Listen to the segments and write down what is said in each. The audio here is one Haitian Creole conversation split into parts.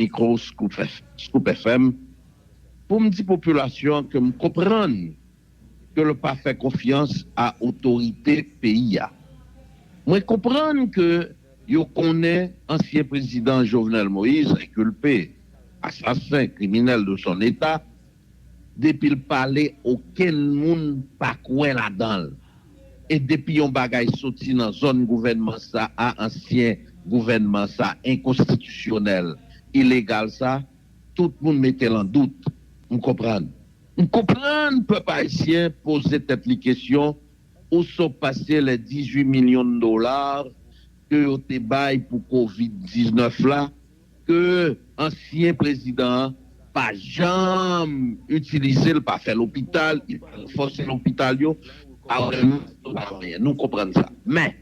Mikro Scoop FM pou m di popilasyon an ke m konprann ke l pa fè konfyans a otorite peyi a. Mwen konprann ke yo konnen ansyen prezidan Jovenel Moïse, enkulpe, asasen, kriminèl de son eta, Depil pale okenn moun pa kwè ladanl e depi yon bagay soti nan zòn gouvènman sa a ansyen gouvènman sa enkonstitisyonèl ilegal sa tout moun metel an dout m konprann. M konprann pèp ayisyen poze tèt li kesyon ou so pase lè 18 millions de dollars ke yo te bay pou covid 19 la, ke ansyen prezidan an pa janm itilize l, pa fè lopital, li pa ranfòse lopital yo, li pa ranfòse l, pa anyen. Nou konprann sa. Men,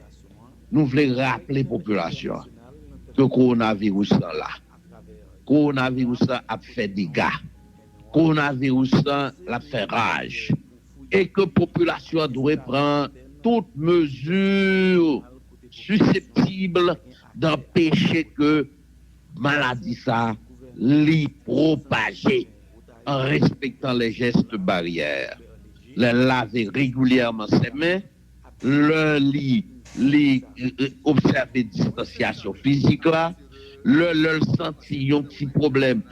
nou vle raple popilasyon an ke kowonaviris lan la. Kowonaviris lan ap fè dega. Kowonaviris lan l ap fè raj. E ke popilasyon an dwe pran tout mezi siseptib Danpeche ke maladi sa li pwopaje an respektan lè jèst baryè, lè lave regilyèman se men, lè li li obsève distansyasyon fizik la, lè lè l santi yon ti pwoblèm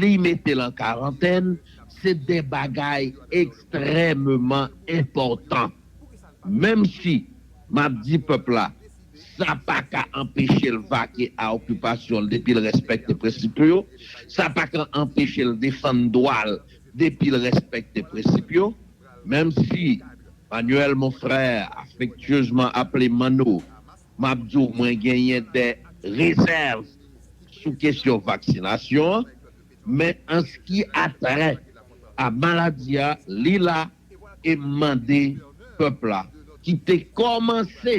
li mete l an karantèn, se de bagay ekstrèmeman enpòtan. Menm si m ap di pèp la. Sa pa ka anpeche l vake a okipasyon l depi l respekte prensip yo. Sa pa ka anpeche l defann dwa l depi l respekte prensip yo. Menm si Manuel mon frère, affectueusement appelé Manno, m ap di w mwen genyen dè rezèv sou kesyon vaksinasyon an, men anski a trè a maladi a, li la e m mande pèp la ki te kòmanse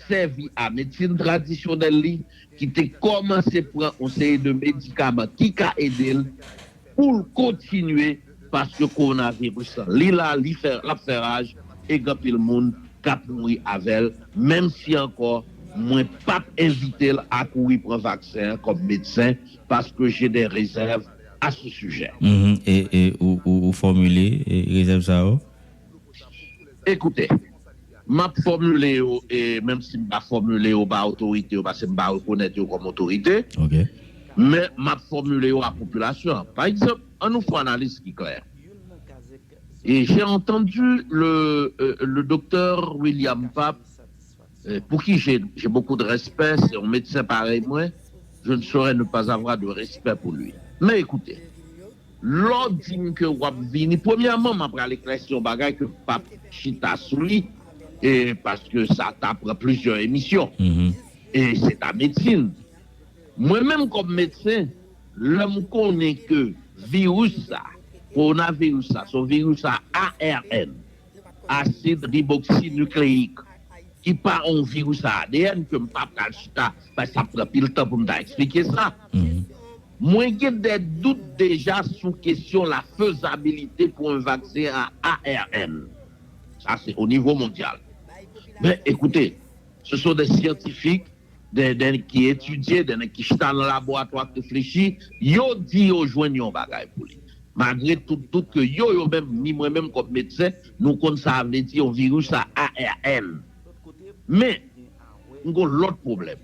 sèvi a medsin tradisyonèl li, ki te kòmanse pran yon seri de medikaman ki ka ede l, pou l kontinye paske kowonaviris lan li la, li fè, l ap fè raj e gen anpil moun k ap mouri avè l, menm si ankò mwen p ap envite l a kouri pran vaksen an kòm medsen paske je dè rezèv. a sou sijè a. E ou fòmile rezèv sa yo? Ekoute, m ap fòmile yo e menm si m pa fòmile yo ba otorite yo pase m pa rekonèt yo kòm otorite, men m ap fòmile yo a popilasyon an. Pa egzanp, an nou fon analiz ki klè. J'ai entendu le Doktè William Pape. Pour qui j'ai j'ai beaucoup de respect, c'est un médecin pareil mwen, je ne saurais ne pas avoir de respect pour lui. Men écoutez, lè w di m ke w ap vini, premyèman m ap pral eklèsi yon bagay ke m pap chita sou li, paske sa ta pran plizyè emisyon, e se ta medsin. Mwen menm kòm medsen, lè m konnen ke viris sa, kowonaviris sa, se yon viris a ARN, asid riboksinukleyik ki pa yon viris adn ke m pa pral chita paske sa ap pran pil tan pou m ta eksplike sa. Mwen gen dè dout deja sou kesyon la fezabilite pou yon vaksen a arn. Sa se o nivo mondyal. Men ekoute, se son dè syantifik Gen dè nèg ki etidye, dè nèg ki chita nan laboratwa ap reflechi, yo di yo jwenn yon bagay pou li. Magre tout dout ke yo, yo menm, ni mwen menm kòm medsen, nou konn sa a vle di yon viris a ARN. Men, gon lòt pwoblèm.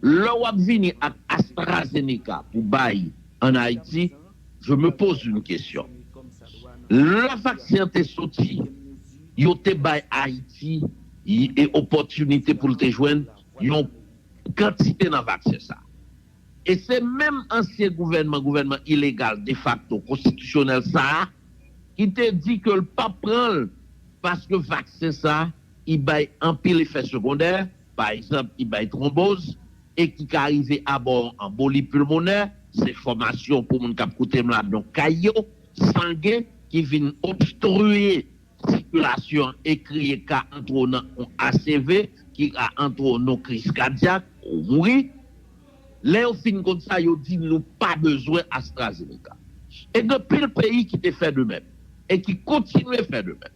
Lè w ap vini ak AstraZeneca pou bay an Ayiti, Je me pose une question. Lè vaksen an te soti, yo te bay Ayiti y opòtinite pou l te jwenn yon kantite nan vaksen sa a. E se menm ansyen gouvènman, gouvènman ilegal, defakto, konstitisyonèl sa a ki te di ke l pap pran l paske vaksen sa a i bay anpil efè segondè, pa egzanp ki bay twonboz e ki ka rive aba yon anboli pilmonè, se fòmasyon pou moun k ap koute m la donk kay yo, sangen ki vin obstrye sikilasyon e kreye ka antre w nan yon ACV ki ka antre w nan yon kriz kadyak ou mouri. Lè yo fin konn sa yo di nou pa bezwen AstraZeneca. E gen pil peyi ki te fè de menm e ki kontinye fè de menm.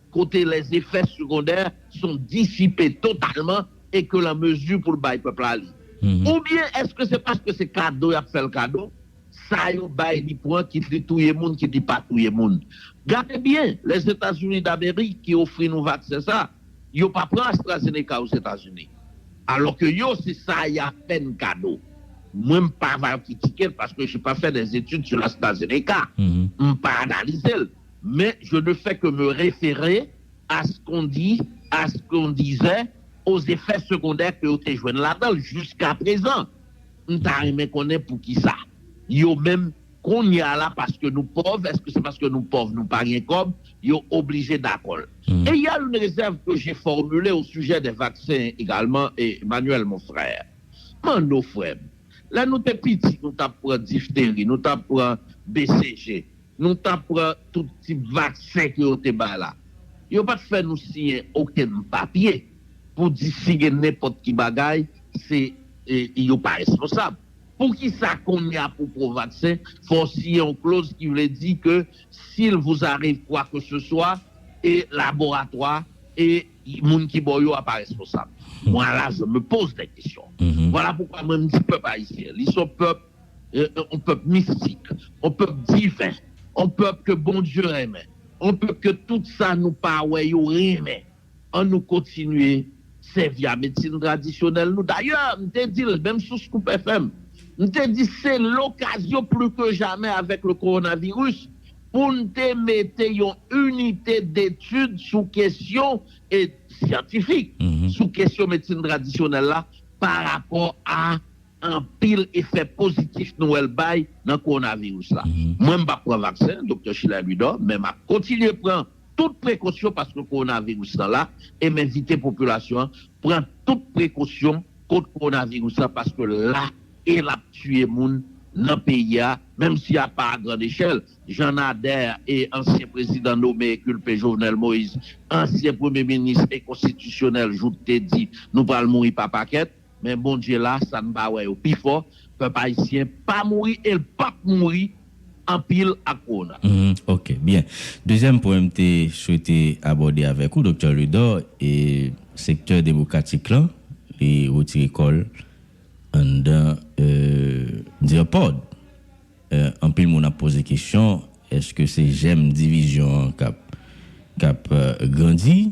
kote lèzefè segondè son disipe totalman e ke l an mezi pou l bay pèp la li? Oubyen èske se paske se kado y ap fè l kado, sa yo bay li pran kit li touye moun kit li pa touye moun? Gade byen, Lèzetazini Damerik ki ofri nou vaksen sa, yo pa pran AstraZeneca Ozetazini, alò ke yo se sa y a fè n kado. Mwen m pa va kritike l paske je pa fè dè etid su l AstraZeneca, m pa analize l. Men je ne fè ke me refere a ce qu'on dit, a ce qu'on disait, aux effets secondaires ke yo te jwenn ladan l jiska prezan. M ta renmen konnen poukisa. Yo menm, kounye a la, paske nou pòv, èske se paske nou pòv nou pa gen kòb, yo oblije dakò l? Et il y a une réserve que j'ai formulée au sujet des vaccins également, Emmanuel mon frère. Manno frè m, lè nou te piti nou t ap pran diphtérie, nou t ap pran BCG. Nou ta pran tout tip vaksen ke yo te bay la. Yo pa t fè nou siyen okenn papye pou di si gen nenpòt ki bagay se yo pa responsab. Poukisa kounye a pou pran vaksen fò w siyen yon kloz ki vle di ke s'il vous arrive quoi que ce soit e laboratwa e moun ki ba w yo a pa responsab? Moi là je me pose des questions. Voilà pourquoi mwen m di pèp ayisyen li son pèp yon pèp mistik, yon pèp diven, yon pèp ke Bondye renmen, yon pèp ke tout sa nou pa wè yo renmen. An nou kontinye sèvi a medsin tradisyonèl nou. Dayè, m te di l, menm sou Scoop FM, m te di se lokazyon pli ke jamè avèk le kowonaviris pou n te mete yon inite detid sou kesyon syantifik, sou kesyon medsin tradisyonèl la pa rapò a. Anpil efè pozitif nou wè l bay nan kowonaviris la. Mwen m pap pran vaksen, Doktè Sheila Louidor, men m ap kontinye pran tout prekosyon paske kowonaviris lan la e m envite popilasyon an pran tout prekosyon kont kowonaviris la paske l la e l ap tiye moun nan peyi a menm si a pa a grand echèl jan Nader e ansyen prezidan nome e kilpe Jovenel Moïse ansyen premye minis e konstitisyonèl joute di nou pral mouri pa pakèt. Men Bondye la sa n pa wè yo pi fò pèp ayisyen pa mouri e l pap mouri anpil ak kowona. Humm ok byen. Dezyèm pwen m te swete abòde avèk ou Doktè Ledor e sektè demokratik lan li retire kò l anndan Dirpod anpil moun ap poze kesyon eske se jèm divizyon an kap grandi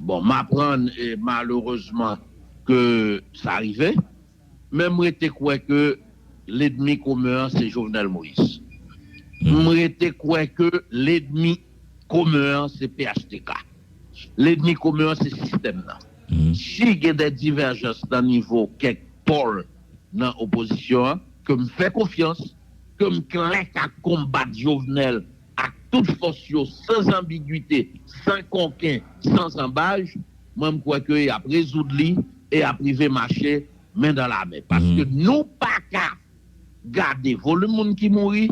Bon m aprann malerezman ke sa rive, men m rete kwè ke ledmi komen an se Jovenel Moïse. M rete kwè ke ledmi komen an se phtk. Ledmi komen an se sistèm nan. Si gen dè divèjans nan nivo kèk pòl nan opozisyon an, ke m fè konfyans, ke m klè k ap konbat Jovenel Ak tout fòs yo, san zanbigwite, san konken, san zanbaj, mwen m kwè ke y ap rezoud li e y ap rive mache men dan la men. Paske nou pa ka gade volim moun ki mouri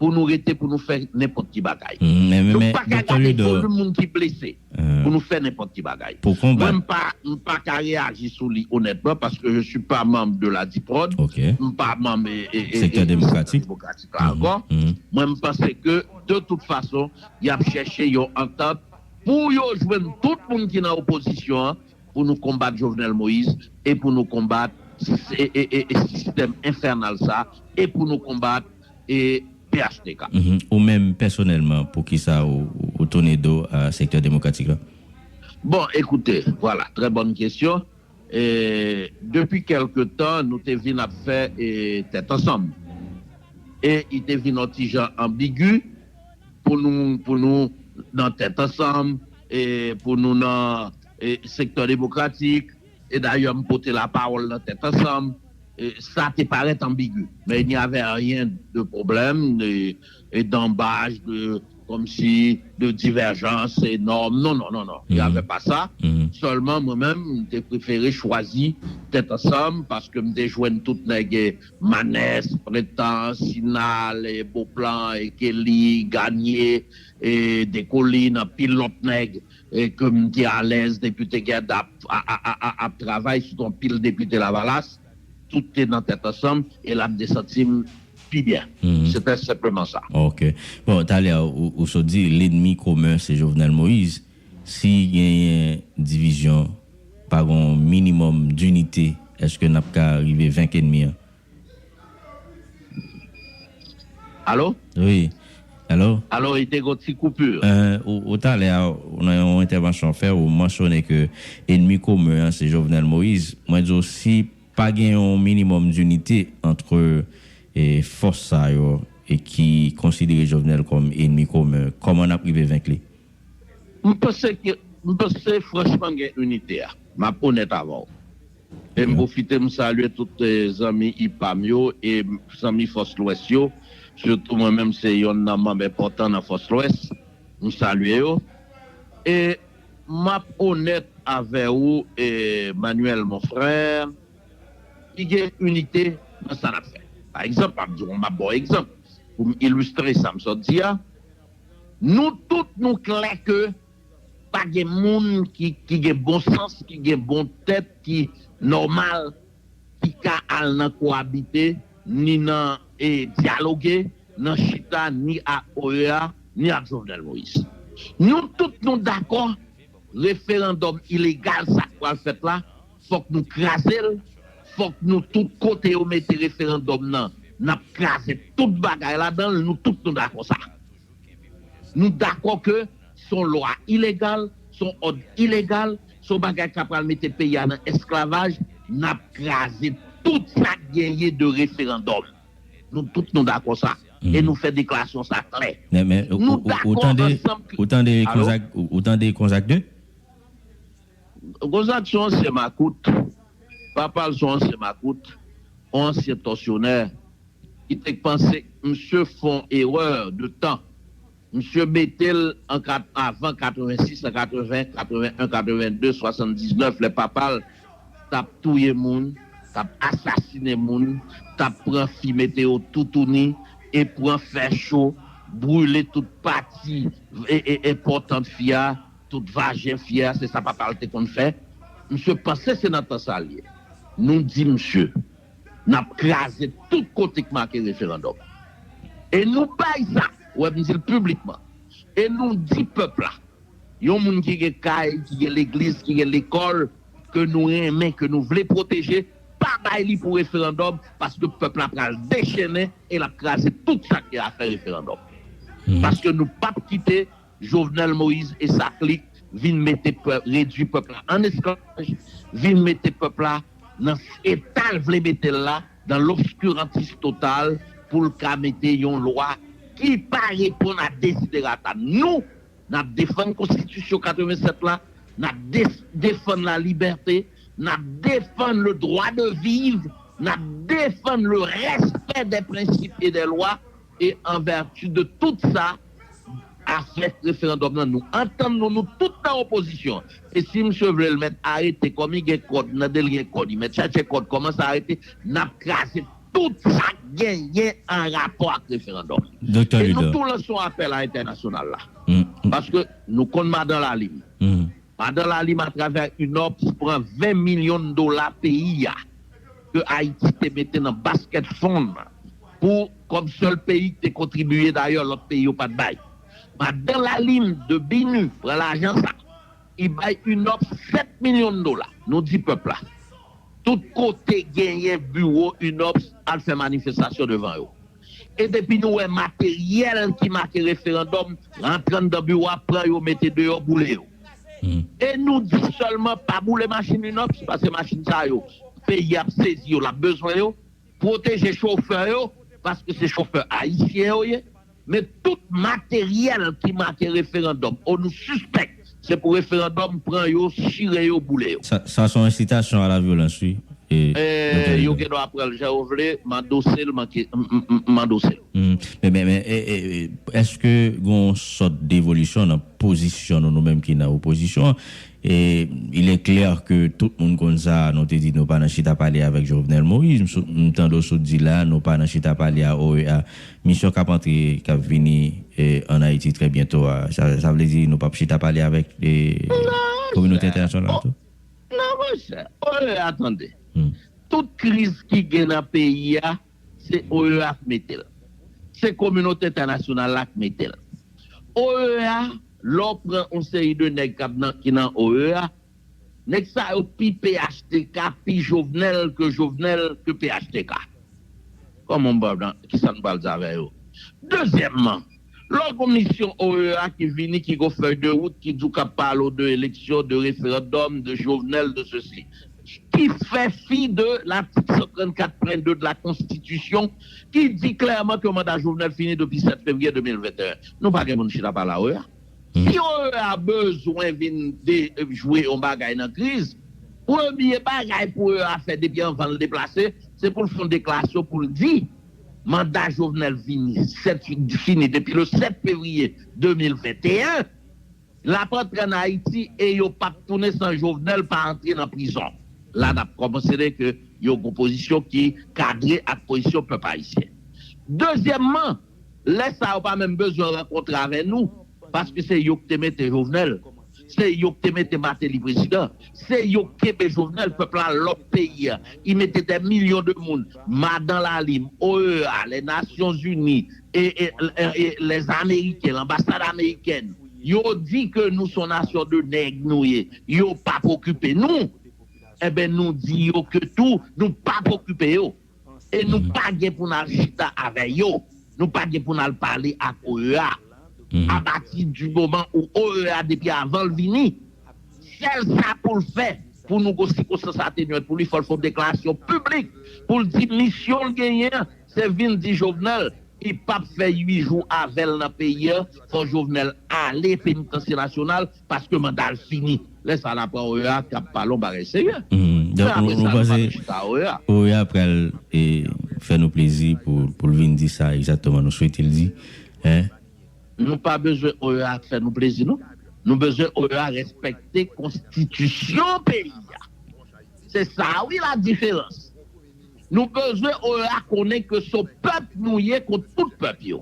pou nou rete pou nou fè nenpòt ki bagay. Nou pa ka gade volim moun ki blese. pou nou fè nenpòt ki bagay. Mwen m pa m pa ka reyaji sou li onètman paske je suis pas membre de la Diprod, m pa manm Sektè Demokratik la ankò. Mwen m panse ke de tout fason y ap chèche yon antant pou yo jwenn tout moun ki nan opozisyon an pou nou konbat Jovenel Moïse e pou nou konbat sistèm enfènal sa e pou nou konbat e phtk. Ou menm pèsonèlman pou kisa ou tounen do a sektè demokratik la? Bon, ekoute, vwala, trè bòn kesyon. Depi kèlke tan nou te vin ap fè tèt ansanm e i te vin on ti jan anbigu pou nou pou nou nan tèt ansanm e pou nou nan sektè demokratik E dayè m pote lapawòl nan tèt ansanm, sa te parèt anbigu, men il n'y avait rien de problème, de d'embâche, de comme si, de divergence énorme, non, non, non, non, il n'y avait pas ça, sèlman mwen menm m te prefere chwazi tèt ansanm paske m te jwenn tout nèg Manès, Prentan, Sinal, Beauplan, Kelly, Garnier, Descollines, anpil lòt nèg E ke m te alèz depite Gerd ap travay sou ton pil depite lavalas, tout te nan tèt ansanm e la m te santi m pi byen. Se tè senpleman sa. Ok. Bon, talè a ou sot di lenmi komen se Jovenel Moise. Si genyen divizyon, pa gon minimòm dinite, eske n ap ka rive venk enmi an? Alo? Wi, alo? Alo, e te gon ti koupur. Eeh, ou talè a, nan yon entèvansyon w fè, ou mansyone ke enmi komen an se Jovenel Moïse. Mwen di w si pa gen yon minimòm dinite antre fòs sa yo e ki konsidere Jovenel kòm enmi komen, kòman n ap rive venk li? M panse ke, m panse franchman gen inite a. M ap onèt avè w. E m pwofite m salye tout zanmi ipam yo e zanmi fòs lwès yo, sitou mwen menm se yonn nan manm enpòtan nan fòs lwès, m salye yo e m ap onèt avè ou Manuel mon frère, ki gen inite nan sa n ap fè. Pa egzanp, m ap di w, m ap ba w egzanp pou m ilistre sa m sot di a, nou tout nou klè ke Pa gen moun ki gen bon sans, ki gen bon tèt, ki nòmal ki ka al nan kowabite, ni nan dyaloge, nan chita ni ak OEA, ni ak Jovenel Moïse. Nou tout nou dakò referandòm ilegal sa k pral fèt la, fòk nou kraze l, fòk nou tout kote yo mete referandòm nan, n ap kraze tout bagay ladan l, nou tout nou dakò sa. Nou dakò ke se yon lwa ilegal, se yon òd ilegal, se yon bagay ka pral mete peyi a nan esklavaj, n ap kraze tout sa k genyen de referandòm. Nou tout nou dakò sa e nou fè deklarasyon sa klè. Nou dakò ansanm ke. Alo? Ou tande Konzak 2? Konzak se yon ansyen makout. Papa l se yon ansyen makout, yon ansyen tòsyonè. ki t k panse misye fè yon erreur de tan misye metel an ka avan 86 an 80 81 82 79 lè papal tap touye moun tap asasine moun tap pran fi mete yo toutouni e pran fè cho brule tout pati enpòtan fi a tout vajen fi a se sa papal te konn fè misye panse se nan tan sa l ye nou di misye. Nap kraze tout kote k make referandòm. E nou bay sa, wè m di l piblikman, e nou di pèp la, yon moun ki gen kay, ki gen legliz, ki gen lekòl ke nou renmen, ke nou vle pwoteje, pa bay li pou referandòm paske pèp la pral dechennen e lap kraze tout sa k gen afè referandòm. Paske nou pap kite Jovenel Moïse e sa klik vin mete redwi pèp la an esklavaj, vin mete pèp la nan eta l vle mete l la, dan lobskurantis total, pou l ka mete yon lwa ki pa reponn a desiderata nou. N ap defann konstitisyon 87 la, n ap defann la libète, n ap defann le dwa de viv, n ap defann le rèspè dè prensip e dè lwa E an vèti de tout sa, afè referandòm lan nou antann nou, nou tout nan opozisyon. E si msye vle l mèt arete kòm li gen kòd nan de l gen kòd li mèt chache kòd kòman sa arete n ap kraze tout sa k genyen an rapò ak referandòm. E nou tou lanse yon apèl a entènasyonal la paske nou konn madan lalime Madan Lalime a travè ak UNOPS pran 20 milyon dola peyi a ke Ayiti te mete nan basket fund pou kòm sèl peyi ki te kontribiye dayè lòt peyi yo pat bay. Madan Lalime de BINU pran lajan sa I bay UNOPS 7 milyon dola. Nou di pèp la tout kote genyen biwo UNOPS al fè manifestasyon devan yo. E depi nou wè materyèl ki make referandòm rantre anndan biwo a pran yo mete deyò boule yo. E nou di sèlman pa boule machin Inops paske machin sa yo peyi a ap sezi yo l ap bezwen yo. Pwoteje chofè yo paske se chofè ayisyen yo ye. Men tout materyèl ki make referandòm o nou sispèk Se pou referandòm pran yo chire yo boule yo. Sa son ensitasyon a la vyolans wi mwen tande Yo gen dwa pranl jan yo vle m andosel m andosel. Men eske gon yon sòt devolisyon nan pozisyon nou nou menm ki nan opozisyon an e il est clair ke tout moun konn sa nou te di nou pa nan chita pale avèk Jovenel Moïse m tande w sot di la nou pa nan chita pale a OEA Misyon k ap antre, k ap vini ann Ayiti trè byento a, sa vle di nou p ap chita pale avèk kominote entènasyonal la tou? Non monchè, OEA tande. Tout kriz ki gen nan peyi a, se OEA k mete l. Se kominote entènasyonal la k mete l. OEA, lè w pran yon seri de nèg ki nan OEA, Neg sa yo pi phtk pi jovenel ke jovenel ke phtk koman m pral nan kisa nou pral di avè yo dezyèmman lò gon misyon OEA ki vini ki gon fèy de wout ki di w kap pale w de eleksyon de referandòm de jovenel de sesi ki fè fi de latik 134 pwen 2 de la konstitisyon ki di klèman ke manda jovenel fini depi 7 fevriye 2021 nou pa gen pou nou chita pale a OEA. Si Horreur a bezwen vin de jwe yon bagay nan kriz, premye bagay pou Horreur a fè depi anvan l deplase, se pou l fè yon deklarasyon pou l di manda Jovenel vini 7 fini depi le 7 fevriye 2021, l ap antre ann Ayiti e yo p ap tounen san Jovenel pa antre nan prizon. La n ap konsidere ke yo gen yon pozisyon ki kadre ak pozisyon pèp ayisyen. Dezyèmman. Lè sa yo pa menm bezwen rankontre avè nou paske se yo ki te mete Jovenel, se yo ki te mete Martelly prezidan, se yo ki kenbe Jovenel, pèp la lòk peyi a, ki mete dè milyon de moun, Madan Lalim, OEA, lè Nasyon Zini, lè Ameriken, lanbasad Amerikèn, yo di ke nou son nasyon de nèg nou ye, yo pap okipe nou, enben nou di yo ke tou nou pap okipe yo. E nou pa gen pou n al chita avè yo, nou pa gen pou n al pale ak OEA. Apati di moman ou OEA depi avan l vini, sèl sa pou l fè pou nou gon sikonstans atenwant pou li fò l fè yon deklarasyon piblik pou l di misyon l genyen an se vin di Jovenel li pap fè 8 jou avè l nan peyi an fò Jovenel ale penitansye nasyonal Paske manda l fini. Lè sa la pran OEA k ap pale yon bagay serye. Men apre sa nou pap chita a OEA. OEA pral fè nou plezi pou l vin di sa egzatteman nou swete l di eh. Nou pa bezwen OEA fè nou plezi non. Nou bezwen OEA respekte konstitisyon peyi a. Se sa wi la diferans. Nou bezwen oea konnen ke so pèp nou ye kont tout pèp yo.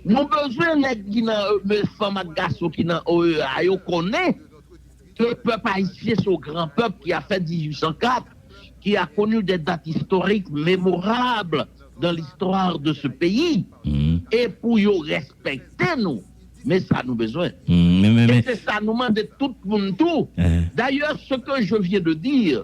Nou bezwen nèg ki nan oea, fanm ak gason ki nan oea yo konnen ke pèp ayisyen so gran pèp ki a fè 1804, ki a connu des dates historiques mémorables dans l'histoire de ce pays e pou yo respekte nou. Men sa nou bezwen. E se sa nou mande tout moun tou. Dayè, ce que je viens de dire.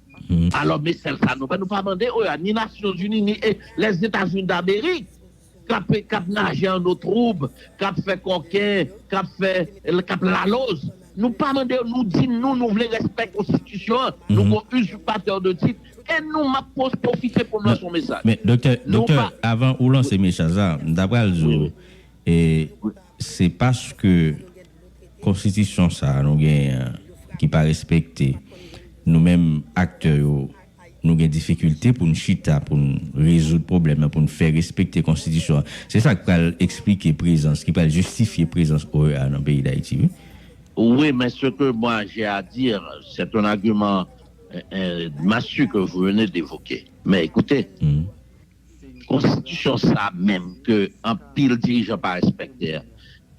Alò me sèl sa nou fè nou pa mande oea ni nasyon zini ni e lè zeta zini damerik kap e kap naje an no troub kap fè kòken kap fè e kap laloz nou pa mande yo nou di nou nou vle rèspè konstitisyon an nou gon uzipatè de tit e nou map pos pofite poum lanse yon mesaj Men doktè nou doktè pa avan ou lanse mesaj la m ta pral di wi ou wi e wi. se paske. Konstitisyon sa nou genyen an ki pa respekte, nou menm aktè yo nou gen difikilte pou n chita pou n rezoud pwoblèm nan, pou n fè respekte konstitisyon an. Se sa k pral esplike prezans, ki pral jistifye prezans OEA nan peyi Dayiti wi. Oui mais ce que moi j'ai à dire c'est un argument massue que vous venez d'évoquer mais écoutez. Konstitisyon sa menm ke anpil dirijan pa respekte an,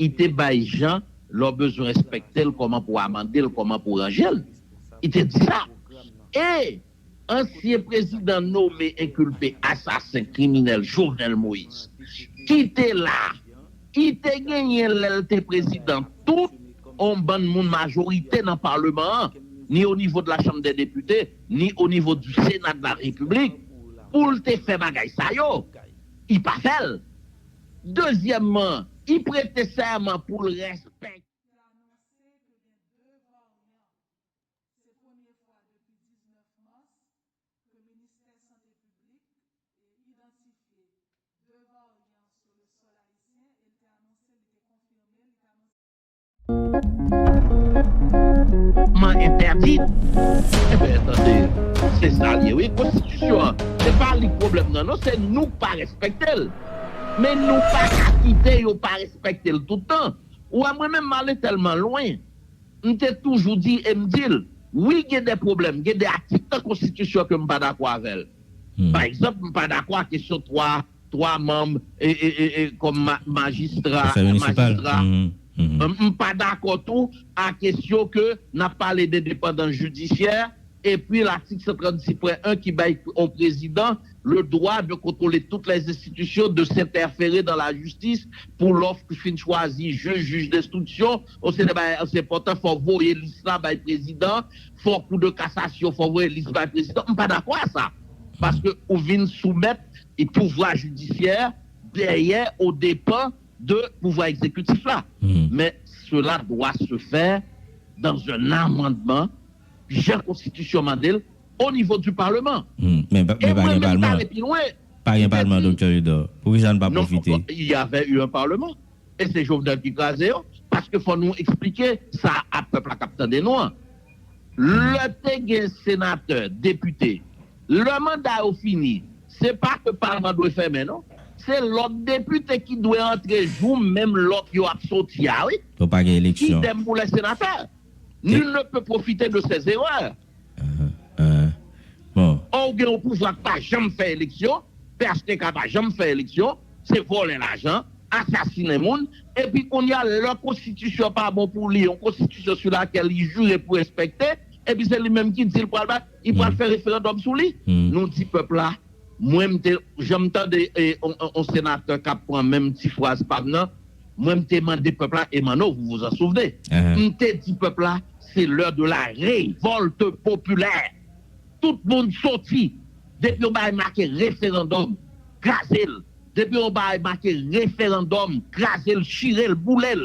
i te bay jan lè w bezwen respekte l kòman pou w amande l, kòman pou w ranje l. I te di sa. E ansyen prezidan nome enkilpe asasen kriminèl Jovenel Moïse ki te la, i te genyen lè l te prezidan tout on bann moun majorite nan Paleman an, ni o nivo de la Chanm dè Depite, ni o nivo di Sena de la Repiblik pou l te fè bagay sa yo, i pa fè l. Dezyèmman, i prete sèman pou l respek. Kòmandman entèdi? Enben tande, se sa l ye wi. Konstitisyon an, se pa li pwoblèm nan non, se nou k pa respekte l. Men nou pa ka kite yo pa respekte l tout tan. Ou wè mwen menm m ale tèlman lwen, m te toujou di e m di l, wi gen de pwoblèm, gen de atik nan konstitisyon ke m pa dakò avè l. Pa egzanp, m pa dakò a kesyon 3. 3 manb kòm majistra majistra m pa dakò tou a kesyon ke n ap pale de depandans jidisyè epi latik 136 pwen 1 ki bay on prezidan le dwa de kontwole tout lè enstitisyon de sentèfere dan la jistis pou lò ou fin chwazi jij jij denstriksyon ou se de bagay ansepotan fò voye lis la bay prezidan fò kou de kasasyon fò voye lis bay prezidan m pa dakò a sa paske ou vin soumèt pouvwa jidisyè dèyè o depan de pouvwa egzekitif la men sela dwa se fè dan un amandman jan konstitisyon mande l o nivo di palman e mwen menm ta ale pi lwen m te di non fòk y avè un palman. E se Jovenel ki kraze yo. Paske fò nou eksplike sa a pèp la k ap tande nou an. Lè te gen senatè, depite, lè manda yo fini, se pa ke palman dwe fèmen non. Se lòt depite ki dwe antre jou menm lòt yo ap soti a wi. Idem pou lè senatè. Nul ne peut profiter de ses erreurs. bon. Or ou gen yon pouvwa ki pa janm fè eleksyon, phtk pa janm fè eleksyon, se vòlè lajan, asasinen moun, epi kounye a lè konstitisyon pa bon pou li, yon konstitisyon sou lakèl li jire pou respekte, epi se li menm ki di li pral bay, li pral fè referandòm sou li? Nou di pèp la. Mwen m te, jan m tande on senatè k ap pran menm ti fraz pa m nan, mwen m te mande pèp la, e Manno vous vous en souvenez, m te di pèp la c'est l'heure de la révolte populaire, tout moun soti, depi yon bagay make referandòm, kraze l, depi yon bagay make referandòm, kraze l, chire l, boule l.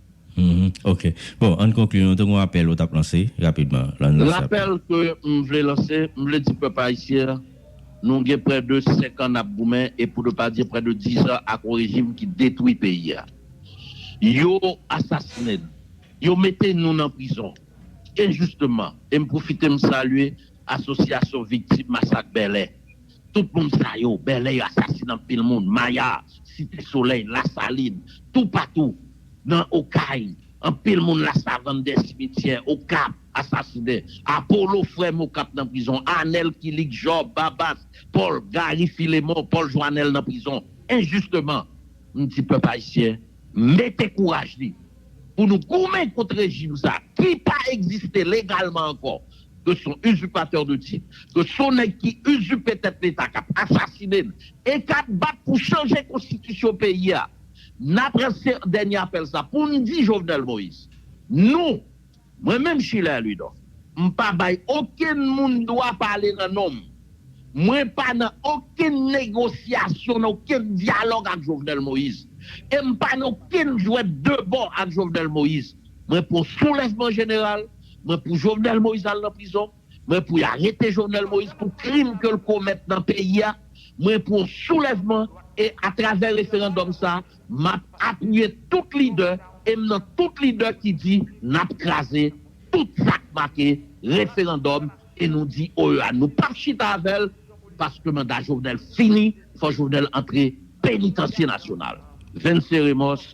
Ok. Bon, ann konkli, nou te gen yon apèl ou t ap lanse, rapidman, l ann lanse apèl ou. Lapèl ke m vle lanse, m vle di pèp ayisyen an, nou gen prè de 5 an n ap goumen e pou nou pa di prè de 10 an ak yon rejim ki detwi peyi a. Yo asasinen n, yo mete nou nan prizon enjisteman e m pwofite m salye Asosyasyon Viktim Masak Bèlè Tout moun sa yo, Bèlè asasine anpil moun, Maya, Site Solèy, Lasalin, toupatou, nan Okay, anpil moun Lasavann, dè simityè, Okap, asasine, Apolo, frèm Okap nan prizon, Anèl, Kilik, Jòb, Babas, Pòl, Gari, Filemon, Pòl Jwanèl nan prizon, enjisteman. M di pèp ayisyen mete kouraj li pou nou goumen kont rejim sa ki pa egziste legalman ankò. ke son usurpateur de titre, ke son nèg ki usurpe tèt leta kap asasine n e kap bat pou chanje konstitisyon peyi a, nap lanse dènye apèl sa pou n di Jovenel Moïse, nou, mwen menm Schiller Louidor, m pa bay okenn moun dwa pale nan non m, mwen pa nan okenn negosyasyon, nan okenn dyalòg ak Jovenel Moïse, e m pa nan okenn jwèt de bò ak Jovenel Moïse, mwen pou soulèvman jeneral. Mwen pou Jovenel Moïse al nan prizon, mwen pou y arete Jovenel Moïse pou krim ke l komèt nan peyi a, mwen pou yon soulèvman e atravè referandòm sa m ap apiye tout lidè e m nan tout lidè ki di n ap kraze tout sa k make referandòm e nou di OEA nou p ap chita avè l paske manda Jovenel fini fò Jovenel antre penitansye nasyonal. Venceremos